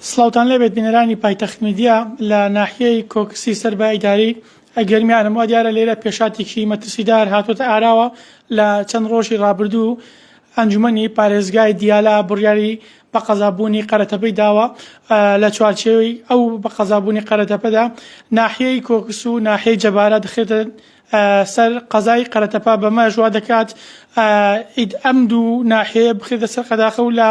سلااوان لەبێت بینەرانی پایتەخت میدیا لە ناحیەی کۆکسی سەر بە ئیداری ئەی گەرمیانم، وا دیارە لێرە پێشهاتێکی مەترسیدار هاتووەتە ئاراوە، لە چەند ڕۆژی ڕابردوو ئەنجومەنی پارێزگای دیالە بڕیاری بە قەزابوونی قەرەتەپەی داوە، لە چوارچێوەی ئەو بە قەزابوونی قەرەتەپەدا ناحیەی کۆکس و ناحیەی جەبارە دەخرێتە سەر قەزای قەرەتەپە، بەمەش وادەکات ئید ئەم دوو ناحیەیە بخرێتە سەر قەداخە و لە.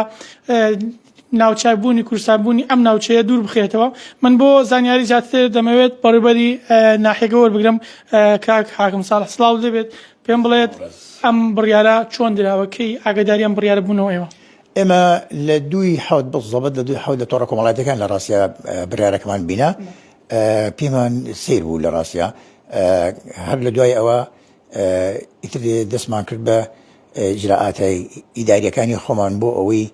ناوچە بوونی کوردستان بوونی ئەم ناوچەیە دوور بخرێتەوە من بۆ زانیاری زیاتر دەمەوێت بەڕێوبەری ناحیەکە وەربگرم کاک حاکم ساڵح سڵاو لێبێت پێم بڵێت ئەم بڕیارە چۆن دراوە کەی ئاگاداری ئەم بڕیارە بوونەوە ئێوە ئێمە لە دووی حەوت بزەبەت لە دووی حەوت لە تۆڕە کۆمەڵاتەکان لە ڕاستە بریارەکەمان بینە پێمان سیر بوو لە ڕاستە هەر لە دوای ئەوە ئیتر دەستمان کرد بە ئیجرائاتە ئیدارییەکانی خۆمان بۆ ئەوەی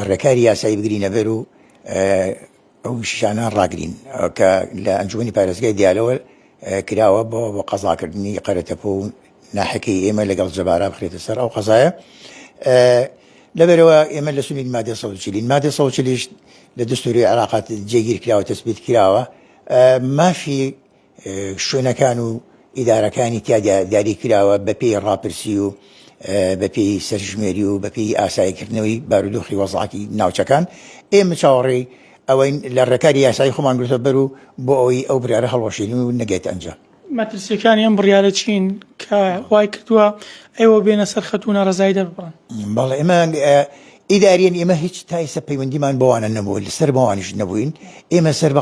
ڕێکاری یاسایی بگرینە بەر و ئەو شیشانە ڕاگرین کە لە ئەنجومی پارێزگای دیالەوە کراوە بۆ بۆ قەزاکردنی قەرەتەپۆ و ناحەکەی ئێمە لەگەڵ جەبارا بخرێتە سەر ئەو قەزایە لەبەرەوە ئێمە لە سوین مادە سەوچلین مادە سەوچلیش لە دەستوری عراقات جێگیر کراوە تەسبیت کراوە مافی شوێنەکان و ئیدارەکانی تیادا دیاریکراوە بەپێی ڕاپرسی و بەپێی سەرژمێری و بەپێی ئاساییکردنەوەی بارودۆخی وەزعاتی ناوچەکان ئێمە چاوەڕێی ئەوەین لە ڕێکاری یاسایی خۆمان گرتووە بەر و بۆ ئەوەی ئەو بڕیارە هەڵوەشێنین و نەگەیێتە ئەنجام. مەترسییەکانی ئەم بڕیارە چین کە وای کردووە ئێوە بێنە سەر خەت و ناڕەزایی دەرببڕن؟ بەڵێ ئێمە ئیداریەن ئێمە هیچ تا ئێستا پەیوەندیمان بەوانە نەبووە، لەسەر بەوانیش نەبووین، ئێمە سەر بە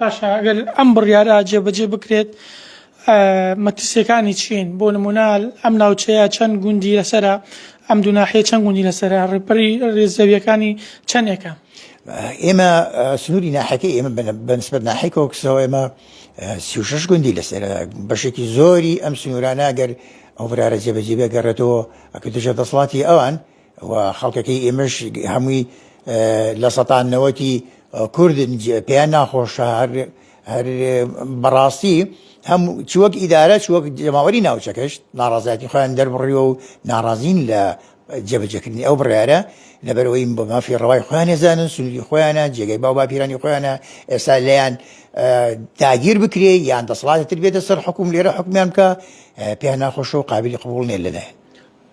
باشە ئەگەر ئەم بڕیارە جێبەجێ بکرێت مەترسیەکانی چین بۆ نمونە ئەم ناوچەیە چەند گوندی لەسرە ئەم دوناحەیە چەند گوندی لەسرە ڕێپەری ڕێزەویەکانی چەندێکە ئێمە سنووری ناحەکە ئێمە بەنسبەت ناحی کۆکسەوە ئێمە سیشش گوندی لەسەر بەشێکی زۆری ئەم سنوورانە گەر ئەو برارە جێبەجێبێ گەڕێتەوە ئەکە دژە دەسڵاتی ئەوان و خەڵکەکەی ئێمەش هەمووی لە سەتا نەوەتی کوردن پێیان ناخۆشە هەر هەر بەڕاستی هەم چ وەک ئیدارە چ وەک جەماوەری ناوچەکەشت ناڕازایەتی خۆیان دەربڕیوە و ناڕازین لە جێبەجەکردنی ئەو بڕارە لەبەرەوەی بە مافی ڕەوای خۆیان ێزانن سنووری خۆیانە جێگەی باو باپیرانی خۆیانە ئێستا لەیان داگیر بکرێ یان دەسڵاتتر بێتە سەر حکوم لێرە حکومیان بکە پێیان ناخۆشە و قابلی قبول نێ لەلایەن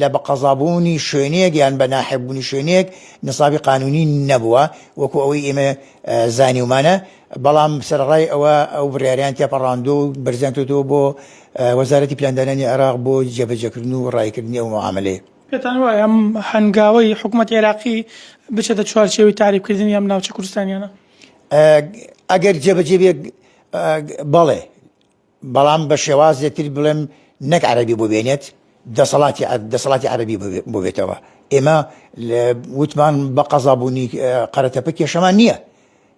لە بە قەزا بوونی شوێنێک یان بە ناحق بوونی شوێنێک نسابی قانونی نەبووە وەکو ئەوەی ئێمە زانیومانە بەڵام سەرڕای ئەوە ئەو بڕیاریان تێپەڕاندو و بەرزیان کردووە بۆ وەزارەتی پلاندانانی عێراق بۆ جێبەجێکردن و ڕایکردنی ئەو معاملەیە. پێتان وایە ئەم هەنگاوەی حکومەتی عێراقی بچێتە چوارچێوەی تەعریبکردنی ئەم ناوچە کوردستانیانە؟ ئەگەر جێبەجێ بێت بەڵێ. بەڵام بە شێوازێ تر بڵێم نەک عەرەبی بۆ بێنێت دەسەڵاتی دەسەڵاتی عەرەبی بۆ بێتەوە ئێمە وتمان بە قەزابوونی قەرەتەپە کێشەمان نییە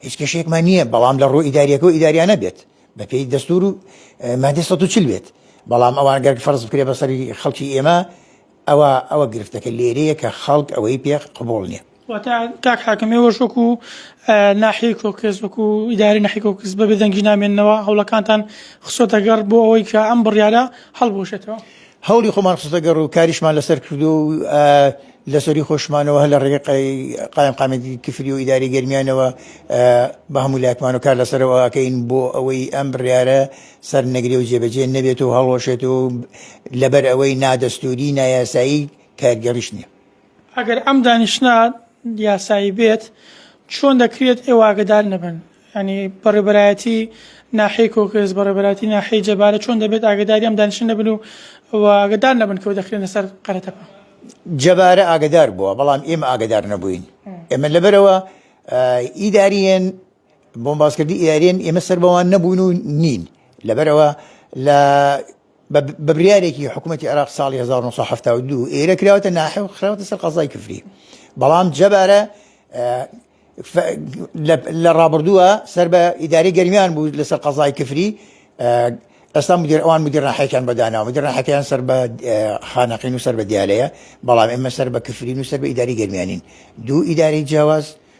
هیچ کێشێکمان نییە بەڵام لە ڕوو ئیداریەکە و ئیداریانە بێت بە پێی دەستور و مادە 140 بێت بەڵام ئەوان گەرگ فەرز بکرێ بەسەری خەڵکی ئێمە ئەوا ئەوە گرفتەکە لێرەیە کە خەڵک ئەوەی پێ قبوڵ نیە. واتە کاک حاکم ئێوەش وەکو ناحیەی کۆکس وەکو ئیدارەی ناحیەی کۆکس بە بێدەنگی نامێننەوە هەوڵەکانتان خسۆتە گەڕ بۆ ئەوەی کە ئەم بڕیارە هەڵبوەشێتەوە؟ هەوڵی خۆمان خستە گەڕ و کاریشمان لەسەر کردو و لەسەری خۆشمانەوە هەر لە ڕێگەی قایمقامیەتی کفری و ئیدارەی گەرمیانەوە بە هەموو لایەکمان و کار لەسەرەوە ئەکەین بۆ ئەوەی ئەم بڕیارە سەرنەگرێ و جێبەجێ نەبێت و هەڵوەشێت و لەبەر ئەوەی نادەستوری نایاسایی کارگەڕیش نییە. ئەگەر ئەم دانیشتنە یاسایی بێت چۆن دەکرێت ئێوە ئاگەدار نەبن؟ یعنی بەڕێبەرایەتی ناحیەی کۆکرێس بەڕێبەراتی ناحیەی جەبارە چۆن دەبێت ئاگداری ئەم دانیشن نەبن و ئاگدار نەبن کەەوە دەخرێنە سەر قەرەتەپە جەبارە ئاگدار بووە بەڵام ئێمە ئاگدار نەبووین ئێمە لەبەرەوە ئیداریەن بۆم باسکردی ئیارێن ئێمە سەر بەوان نەبوون و نین لەبەرەوە لە بە بریارێکی حکوومەتتی عراق ساڵی 1970 ئێرە کراوەتە ناحێ و خراوەتە سەر قەزای کفری بەڵام جەبارە لە ڕابردووە سەر بە ئیداری گەرمیان بوو لەسەر قەزای کفری ئەستا مدیر ئەوان مدیر ڕاحەکان بەداناوە مدیر ڕاحەکەیان سەر بە خانەقین و سەر بە دیالەیە بەڵام ئێمە سەر بە کفرین و سەر بە ئیداری گەرمیانین دوو ئیداری جیاواز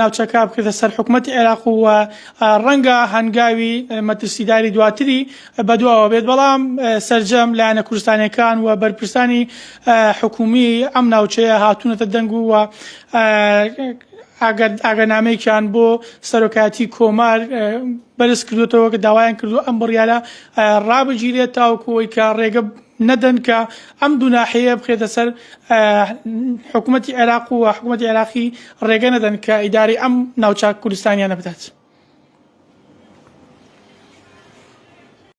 ناوچەکە بکرێتە سەر حکومەتی عێراق و ڕەنگە هەنگاوی مەترسیداری دواتری بەدواوە بێت بەڵام سەرجەم لایەنە کوردستانەکان و بەرپرسانی حکومی ئەم ناوچەیە هاتوونەتە دەنگ و ئەگەر ئاگەنامەیەکیان بۆ سەرۆکایەتی کۆمار بەرز کردوێتەوە کە داوایان کردو ئەم بڕیاە ڕابگیرێت تاوکوی کە ڕێگە نەدەن کە ئەم دوو ناحیەیە بخرێتە سەر حکومەتی عێراق و حکومەتی عێراقی ڕێگە نەدەن کە ئیداری ئەم ناوچە کوردستانیانە بدات.